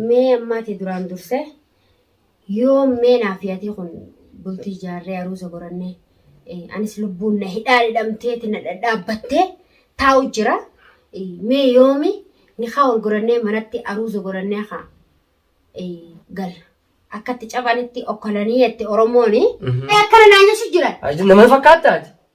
Mee ammaati duraan dursee yoom mee naaf yaatii kun bultii jaarree aruuza gorannee anis lubbuun na hidhaa dhidhamteeti na dhadhaabbattee taa'u jira mee yoomi nikaa wal gorannee manatti aruuza gorannee kaa gal akkatti caphanitti okkolanii jette oromooni akkana naa jechu jiran. Nama fakkaatti ati.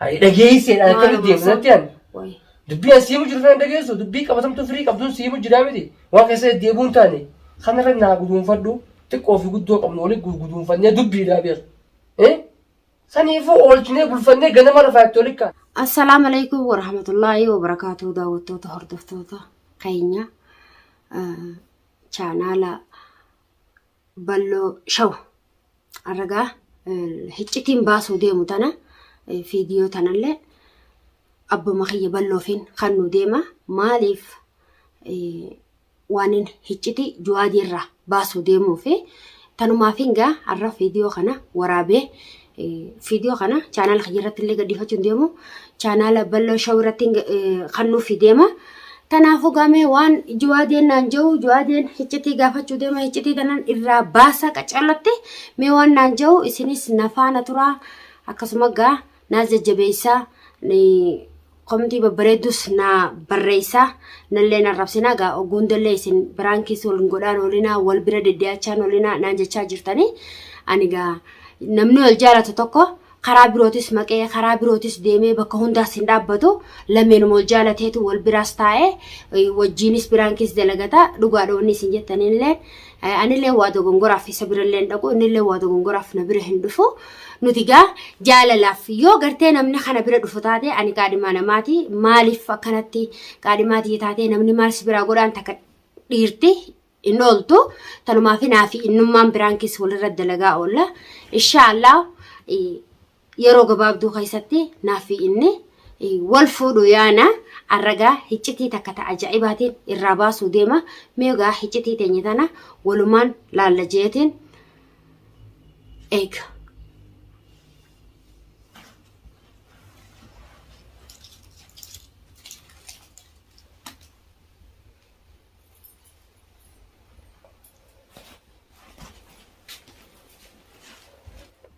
Hayi dhageessee dha akka miti irratti ani. Dubbii as siimu jiru sana dhageessu dubbii qabatamtuu firii qabduun siimu jiraa miti waan keessa deddeebuun taane kanarra naa guduunfadhu xiqqoo fi guddoo qabnu waliin guduunfannee dubbiidhaa beeku. Saniifuu oolchinee bulfannee ganama lafaa itti waliin kaana. Assalaamu alaikum warahmatullaahi wabarakaatuu daawwattoota hordoftoota keenya chaanaala balloo shaw arragaa hiccitiin baasuu deemu tana fiidiyoo tanallee abbuma kiyya balloofiin kan nu deema maaliif waanin hicciti juwaadii irraa baasuu deemuu fi tanumaafiin gaa har'a fiidiyoo kana waraabee Viidiyoo kana chaanaala kiyya irratti illee gadhiifachuun deemu chaanaala bal'oo shawuu irratti kan nuuf deema. Kanaafuu gamee waan juwaadeen naan jiru juwaadeen hiccitii gaafachuu deema hiccitii tanan irraa baasa qacallatte mee waan naan jiru isinis nafaana turaa akkasuma gaa naas jajjabeessaa. Komtii babbareeddus naa barreessaa nallee na rabsinaa gaa ogguundallee isin biraankiis wal hin godhaan oolinaa wal bira deddee'achaan oolinaa naan jechaa jirtanii ani gaa namni wal jaalatu tokko karaa birootis maqee karaa birootis deemee bakka hundaas hin dhaabbatu lameenuma wal jaalateetu wal biraas taa'ee eh, wajjiinis biraankiis dalagata dhugaadha wanni isin jettanillee Anillee waa dogongoraaf isa birallee hin dhaqu innillee waa dogongoraaf na bira hin dhufu nuti gaa jaalalaaf yoo gartee namni kana bira dhufu taate ani qaadhimaa namaati maaliif akkanatti qaadhimaa tiyya taatee namni maal si biraa godhaan takka dhiirti hin ooltu tanumaaf hinaafi innummaan biraan keessa walirra dalagaa oolla inshaallah yeroo gabaabduu keessatti naaffi inni wal fuudhu yaana arragaa hiccitii takka ta ajaa'ibaatiin irraa baasuu deema meegaa hiccitii teenya tana walumaan laalla jeetiin eega.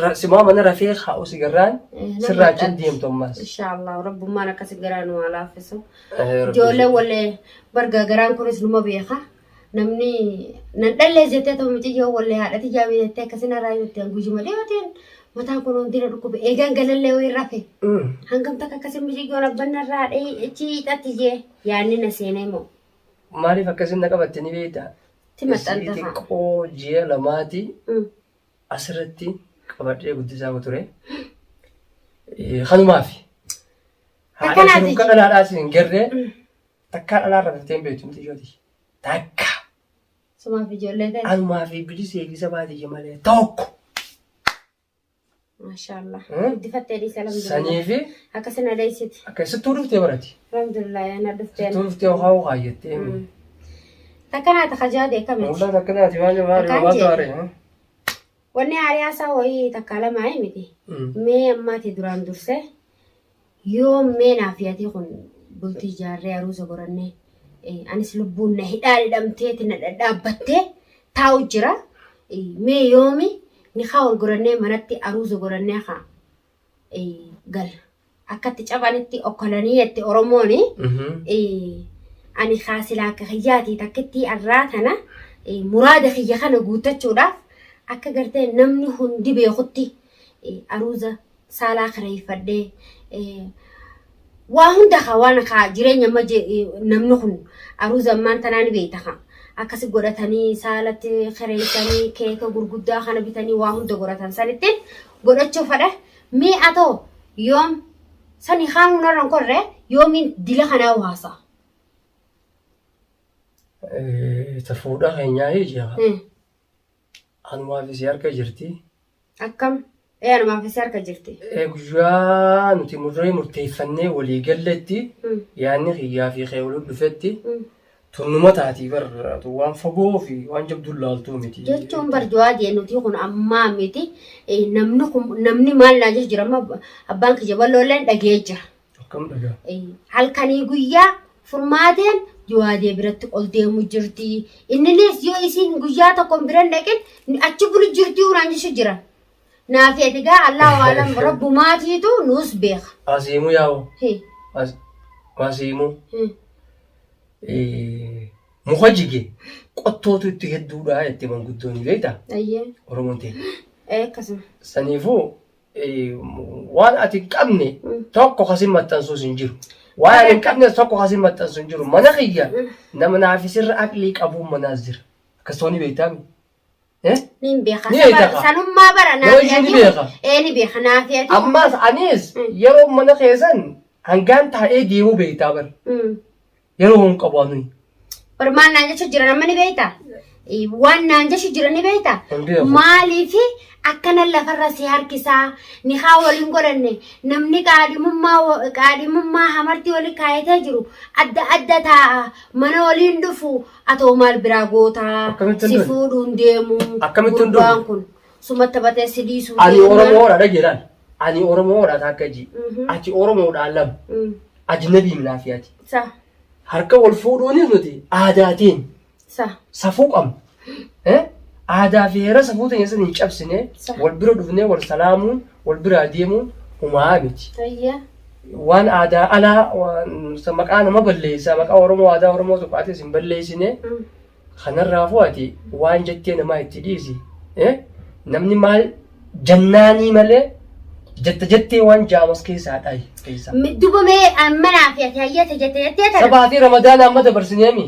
Ra- Simaa mana rafee haa'u sigarraan sirraa achiin deemtu ammaas. Inshaallah rabbummaan akkasi garaa nu haa laaffisu. Eh, rabbi- Ijoollee wallee barga garaan kunis numa beeka. Namni nan dhallee jettee ta'u mucayyoo wallee haadhati jaamii jettee akkasina irraa jettee guyyuma dhiyootiin mataan kun hundina dhukkube eegaan galallee wayii rafe. Mm. Hangam takka akkasii mucayyoon abban irraa dhahee ichi xatti jee yaanni na seenee moo. Maaliif akkasiin na qabatte ni beektaa? Ti Isii maxxantafa. xiqqoo ji'a lamaati Mm. asirratti qabadhee guddisaa ture. Kanumaafi. Haadha Akkanaati. jiruuf kan dhalaadhaa isin hin garree takkaa dhalaa irra fiftee hin beektu miti shooti. Takka. Sumaaf ijoollee ta'e. Anumaa fi bilisa eegisa baadiyya malee tokko. Maashaallah. Hmm? Guddifattee dhiisa Sanii alhamdulillah. fi Akka sin adeessiti. akka sittuu dhuftee barati. Alhamdulillah yaana dhuftee. Sittuu dhuftee ho'aa ho'aa jettee. Hmm. Takkanaa ta kajaa beeka miti. Waldaa takkanaati maal maal Akkaan maaltu jeete. haare? ha? Wanni aariyaa isaa wayii takkaa lamaa hin miti. Mm. Mee ammaati duraan dursee yoo mee naaf yaadii kun bultii ijaarree aruuza gorannee eh, anis lubbuun na hidhaa dhidhamteeti na dhadhaabbattee taa'u jira. Eh, Mee yoomi nikaa wal gorannee manatti aruuza gorannee haa gala. Akka itti cabanitti okkolanii jette Oromoon. Ani kaasilaa akka kiyyaati takkittii arraa tana muraada kiyya kana guuttachuudhaaf akka gartee namni hundi beekutti aruuza saalaa kireeffadhee waa hunda kaa waan kaa jireenya amma namni kun aruuza ammaan tanaa ni beekta kaa. Akkasi godhatanii saalatti kireessanii keeka gurguddaa kana bitanii waa hunda godhatan sanittiin godhachuu fadha mee atoo yoom sani kaanuu narran korre yoomiin dila kanaa waasa. Ta fuudhaa keenyaa ija Hmm. anumaaf isii harka jirti. Akkam ee anumaaf isii harka jirti. Eh, Guyyaa nuti murree murteeffannee walii galletti Hmm. yaanni kiyyaa fi kee waliin dhufetti Hmm. Tun numa taatii bar tun waan fagoo fi waan jabduun laaltuu miti. jechuun bar jawaa jee nuti kun ammaa miti Eh, namni kun namni maal naa jira jira amma abbaan kiyya balloolleen dhagee jira Akkam dhagaa. Eh, halkanii guyyaa furmaateen jawaadee biratti ol deemu jirti inninis yoo isiin guyyaa tokko hin biran dhaqin achi bulu jirti uraan jechu jira Naafi ati gaa Allahu alam rabbumaatiitu nuus beeka. Asiimu yaa'u. Hi. As- Asiimu. Hmm. Eh, Muka jige qottootu itti hedduudha jetti manguddoon beekta Ayyee. Oromoon ta'e. Ee akkasuma. Saniifuu eh, waan ati hin qabne Mm. tokko kasin maxxansuus hin jiru. Waan ani hin qabnes tokko kasin maxxansu hin jiru. Mana kiyya nama naafisirra aqlii qabuun manaas jira. Akkasumas ni beektaami. Eh? Niin beekaa. Ni Saba- beekaa. Sanummaa bara Yoo naaf ishee ni yaaduu. beekaa. Ee ni beeka naaf yaaduu. Ammaas anis Mm. yeroo mana keessan hangaan taa'ee deemuu beektaa bar. Mm. Yeroo hin qabu anuyi. Bar maal naan jechuun jiran amma ni beektaa? Eh, Waan naan jechuun jiran ni beektaa? Hin beeku. Maaliif akkana lafarra si harkisaa ni haa waliin godhanne namni qaadhimummaa wa- qaadhimummaa hamartii waliin kaayatee jiru adda adda taa'a mana waliin dhufu Atoo maal biraa gootaa Akkamittan si du'e? fuudhuun deemu Akkamittan du'e? gurbaan kun sumatta batee si dhiisuu Ani deema. Oromoodha dha jedhan. Ani Oromoodha takka ji. Mhm. Ati Oromoodha lama. Mm. Ajnabii minaafi ati. Sa Harka wal fuudhuunis nuti aadaatiin sa safuu qabna. Eh? Aadaa fi heera safuu ta'e san hin cabsine Sa- wal bira dhufnee wal salaamuun wal biraa deemuun humaa miti. ayya. waan aadaa alaa waan sa maqaa nama balleessaa maqaa oromoo aadaa oromoo tokko atis hin balleessine kanarraafuu ati waan jettee namaa itti dhiisi eh? namni maal jannaanii malee jetta jettee waan jaamas keessaa dhayi keessaa Dubamee manaa fi ati hayyate jette jettee tana. sabaatii ramadaana amma dabarsineemi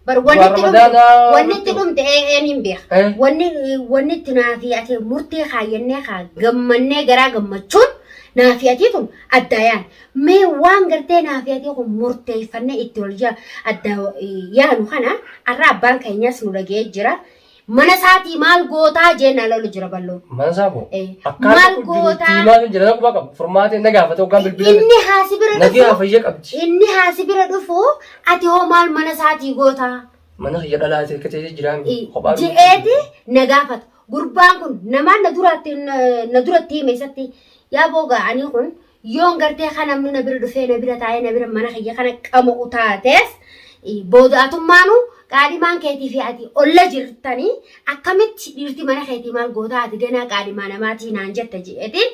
Bar wanni Du'a itti dhumte, Ramadaanaa wanni itti jechuun. dhumte ee ee niin beeka. Eh. Wanni wanni itti naafii ati murtee kaayyannee kaa gammannee garaa gammachuun naafii atii kun addaayaan. Mee waan gartee naafii atii kun murteeffannee itti wal jaa addaa yaanu kana har'a abbaan keenyas nu dhagee jira. Mana isaatii maal gootaa jeen ala olu jira balloo. Mana isaa koo. Eh, Akkaan maal tokko jiru gootaa? itti himaa sun jira na quba qabu. Furmaatee na gaafate hoggaan bilbila. Inni haasi bira Nagee dhufu. hafayya qabdi. Inni haasi bira dhufu ati hoo maal mana isaatii gootaa? Mana kiyya dhalaa ta'e ta'e jiraan kophaa dhufu. Je'eeti na gaafata. Gurbaan kun namaan na duratti na duratti hime isatti yaa booga ani kun Yoon gartee kan namni na bira dhufee na bira taa'ee na bira mana kiyya kana qama'u taatees booda'atummaanu qaadhimaan keetii fi ati olla jirtanii akkamitti dhiirti mana keetii maal gootaa ati ganaa qaadhimaa namaatii naan jetta jedheetiin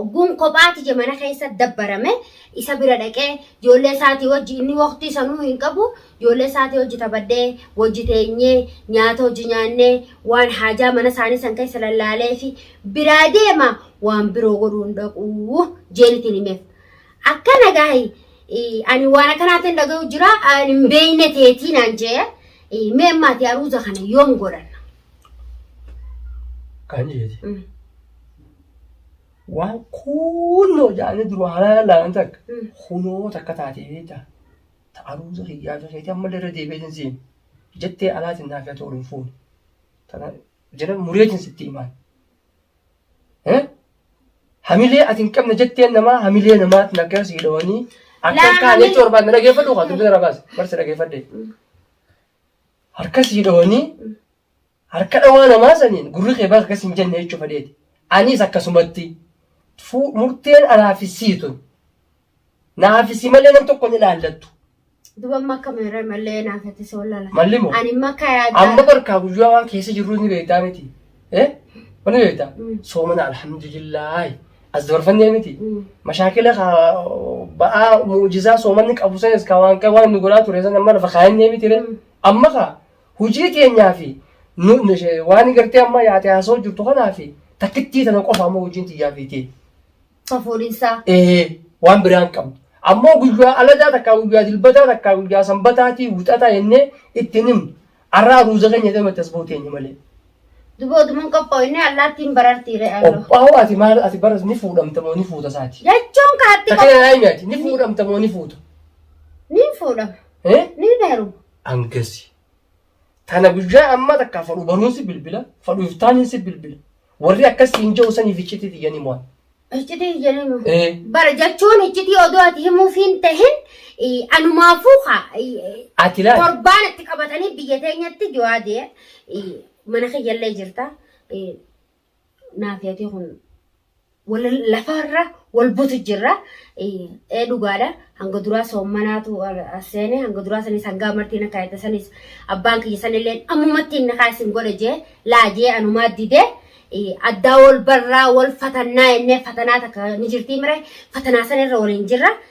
ogguun kophaati je mana keessa dabbarame isa bira dhaqee ijoollee isaatii wajji inni waqtii sanuu hin qabu Ijoollee isaatii wajji taphadhee, wajji teenyee, nyaata wajji nyaannee, waan haajaa mana isaanii san keessa lallaaleefi biraa deema, waan biroo godhuu hin dhaqu jeen ittiin himeef. Akkana gaahi ani waan akkanaatiin dhaga'u jira ani hin beekne teetii naan jee mee ammaati aruuza kana yoom godhanna? Kan jeeti. Mm. Waan kuunnoo jaanii duruu haala laalan takka Mm. kunoo takka taatee beektaa. Ta'aruuza kiyyaa fi keetii ammallee irra deebi'ee hin siin jettee alaatiin naaf yaa ta'u hin fuune. Tana jedhan mureetiin sitti himaan. Hamilee ati hin qabne jetteen namaa hamilee namaatti naggaa sii dhawanii akka Laa, kaan hamilee- jechuun barbaadne dhageeffadhu kan dubbisa rabaas barsi dhageeffadhe. Harka sii dhawanii Harka dhawaa namaa saniin gurri kee bakka akkas hin jenne jechuu fedheeti. Aniis akkasumatti fu- murteen anaa fi sii tun. Naa fi sii malee nam tokko hin ilaallattu. Duba amma akka meeree mallee naa fete soo lala. Malli moo? Ani amma akka yaadaa. Amma barkaa guyyaa waan keessa jirru ni beektaa miti. Eh? Wani beektaa? Mm. Soomana alhamdulillaahi. As dabarfannee miti. Mm. Mashaakila ka ba'aa mu'ujizaa soomanni qabu sanis ka waan ka waan nu godhaa ture san amma lafa kaayannee miti. Mm. Amma ka Hujii teenyaa fi waan gartee amma yaate haasoo jirtu kanaa fi takkittii tana qofa ammoo hojiin tiyyaa fi tee. Safuudhinsaa. Ee waan biraan qabdu. Ammoo guyyaa aladaa takkaa guyyaa dilbataa takkaa guyyaa sanbataatii wixataa jennee ittiin himnu. Arraa ruuza keenya jedhee matti as buuteenya malee. Duboo duman qophoofne allaattiin barartii re'allo. Qophaa'oo ati maal ati baras ni fuudhamta moo ni fuuta isaati. Jechuun kaatti Takkee qophoofne. naa himi ati ni fuudhamta moo ni fuuta. Niin fuudhama. Eh? Niin heeruma. angasi tana guyyaa ammaa takkaa fadhu baruun si bilbila fadhu iftaaniin si bilbila warri akkas siin jedhu saniif iccitii tiyyanii mo'an. Iccitii jedhanii Eh. bara jechuun iccitii odoo ati himuuf hin tahin eh, anumaafuu haa eh, Ati laal torbaan itti qabatanii biyya teenyatti jawaadee eh, mana kiyyallee jirta eh, naaf yaadee kun wal lafarra wal butu jirra. Ee dhugaadha hanga duraa soommanaatu seene hanga duraa sanis hangaa martiin akka yaadda sanis abbaan kiyya sanillee ammumatti inni kaa isin godhe jee laa jee anumaa dide addaa wal barraa wal fatannaa jennee fatanaa takka ni jirtii mire fatanaa sanirra waliin jirra.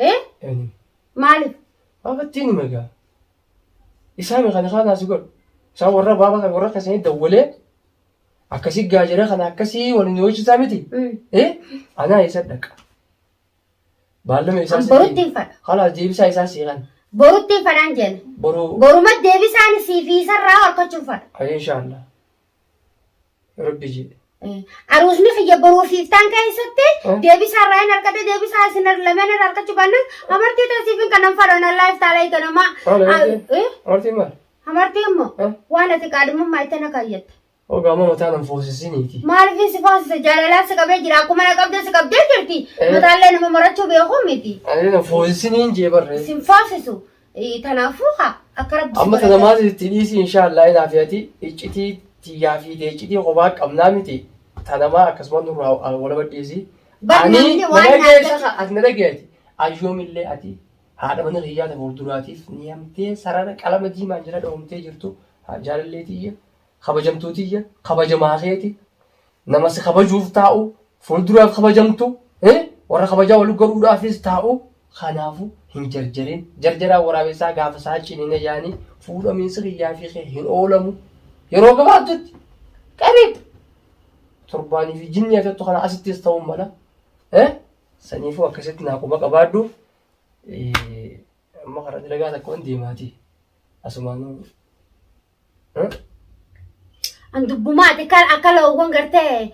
Ee? Ani. Maali? Baabattiin hima egaa. Isaa meeqa ni kaanaa si godhu. Isaa warra baaba kan warra akkasanii dawwalee akkasii gaajera kana akkasii waliin hojjetaa miti. Mm. Ee? Anaa isa dhaqa. Baallama isaa An borutti hin fadha. Halaas deebisaa isaa seeqan. Borutti hin fadhaan jenna. Boruu. Boruma deebisaan siifiisarraa harkachuun fadha. Ayee inshaallah. rabbi jedhe Aruusni kiyya boruu fi iftaan keessatti Oh. deebisaa irraa hin argate deebisaa isin lameen irraa argachuu baannaan amartii taasiif hin kanan fadhan allaa iftaalaa eeganamaa. Haala eegee? amartii maal Amartii immoo Eh? waan ati qaadhimummaa itti na kaayyatte. ogaa amma mataa nan foosisiniiti Maaliif si foosisa jaalalaa si qabee jira akkuma na qabdee si qabdee jirti. Eh. Mataallee nama marachuu beekuu miti. ani nan foosisiniin jee barree Isin foosisu Ee, Tanaafuu haa akka rabbi si Amma tana godhate. maaliif itti dhiisii inshaallah inaa fi ati iccitii tiyyaa fi tee iccitii kophaa qabnaa miti tanamaa akkasuma nurraa walaba dhiisii. Bar Ani namni na waan dhageessa naagati. ka ati na dhageeti ayyoomillee ati haadha mana kiyyaa ta fuulduraatiif ni hamtee sarara qalama diimaan jala dhoomtee jirtu haa jaalallee tiyya kabajamtuu tiyya kabajamaa keeti nama si kabajuuf taa'u fuuldura kabajamtu eh, warra kabajaa wal godhuudhaafis taa'u kanaafu hin jarjarin jarjaraa waraabessaa gaafa isaa cinine yaanii fuudhamiinsi kiyyaa fi kee hin oolamu yeroo gabaabdutti qariib torbaanii fi jinnii agattu kana asittis ta'uu mala eh, saniifuu akkasitti naa quba qabaadhu Eh, amma karaa dalagaa takka waan deemaatii asumaanuu An dubbumaati kan akka loowwan gartee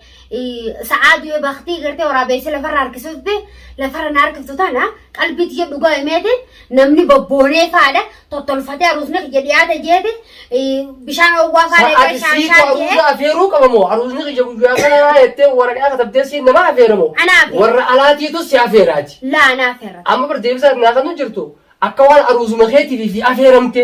sa'aa du'e baktii gartee waraabeessa lafarra harkisuutti lafarra na harkiftu tana qalbii tiyya dhugaa himeeti namni bobboonee faadha tottolfatee aruusni kiyya dhiyaate jeeti bishaan owwaa faadha Sa'aati shaan siitu shaan jee aruuza afeeruu qabamoo aruuzni kiyya guyyaa kanaa jettee waraqaa katabdee siin nama afeeramoo Anaa afeera. warra alaatiitu si afeeraati. laa naaf herra. Amma bar deebisaa naa kan jirtu akka waan aruuzuma keetiif fi afeeramte.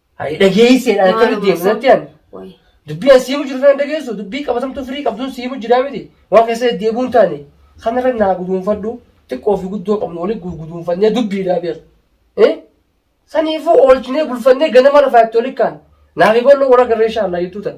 Hayi dhageessee dha akka nuti deemu natti ani. Wayi. Dubbii as siimu jiru sana dhageessu dubbii qabatamtuu firii qabduun siimu jiraa miti. Waan keessa deddeebi'uu hin taane kanarra naa guduunfadhu xiqqoo fi guddoo qabnu waliin guduunfannee dubbiidhaa beera. Eh? Saniifuu oolchinee bulfannee ganama lafaa itti oli kaan. Naa fi bal'oo warra garree shaallaa jettuu tan.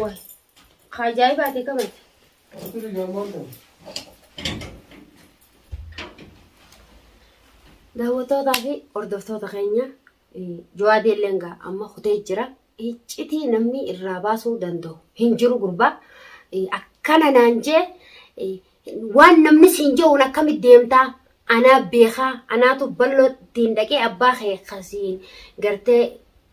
Waay. Ka ajaa'ibaati kamati. Turi gamoo kan. Daawwattootaa fi hordoftoota keenya eh, Jawaadii illee egaa amma kutee jira. Iccitii namni irraa baasuu danda'u hin jiru gurbaa. Eh, Akkana naan jee eh, Waan namni siin je'uun akkamit deemtaa? Anaa beekaa, anaatu balloo ittiin dhaqee abbaa kee ka siin gartee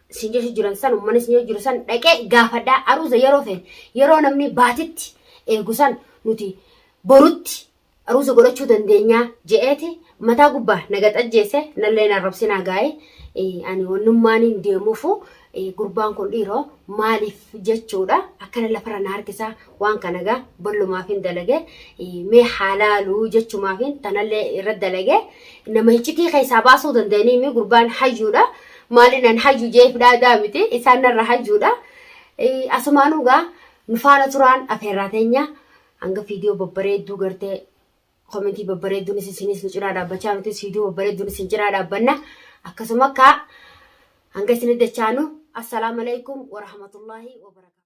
siin jechu jiran san ummani siin jechu jiru san dhaqee gaafadhaa aruuza yeroo fe'e yeroo namni baatitti eegu san nuti borutti aruuza godhachuu dandeenyaa je'eeti mataa gubbaa na gaxajjeese nallee na arrabsinaa gaa'e ani wannummaaniin deemuufu Gurbaan kun dhiiro maaliif jechuudha akkana lafarra na harkisa waan kana egaa ballumaafin dalage mee haa laalu jechumaafin tanallee irra dalage nama hiccitii keessaa baasuu danda'anii mi gurbaan hayyuudha maalinan hayyu jeef dhaadaa miti isaan narra hayyuudha asumaanuu egaa nu faana turaan afeerraa teenya hanga fiidiyoo babbareedduu gartee Commentii babbareedduunis isinis nu cinaa dhaabbachaa nutis viidiyoo babbareedduun isin cinaa dhaabbanna. Akkasuma akka hanga isinitti dachaanu. Assalaamu alaikum wa rahmatullahi wa barakaatuh.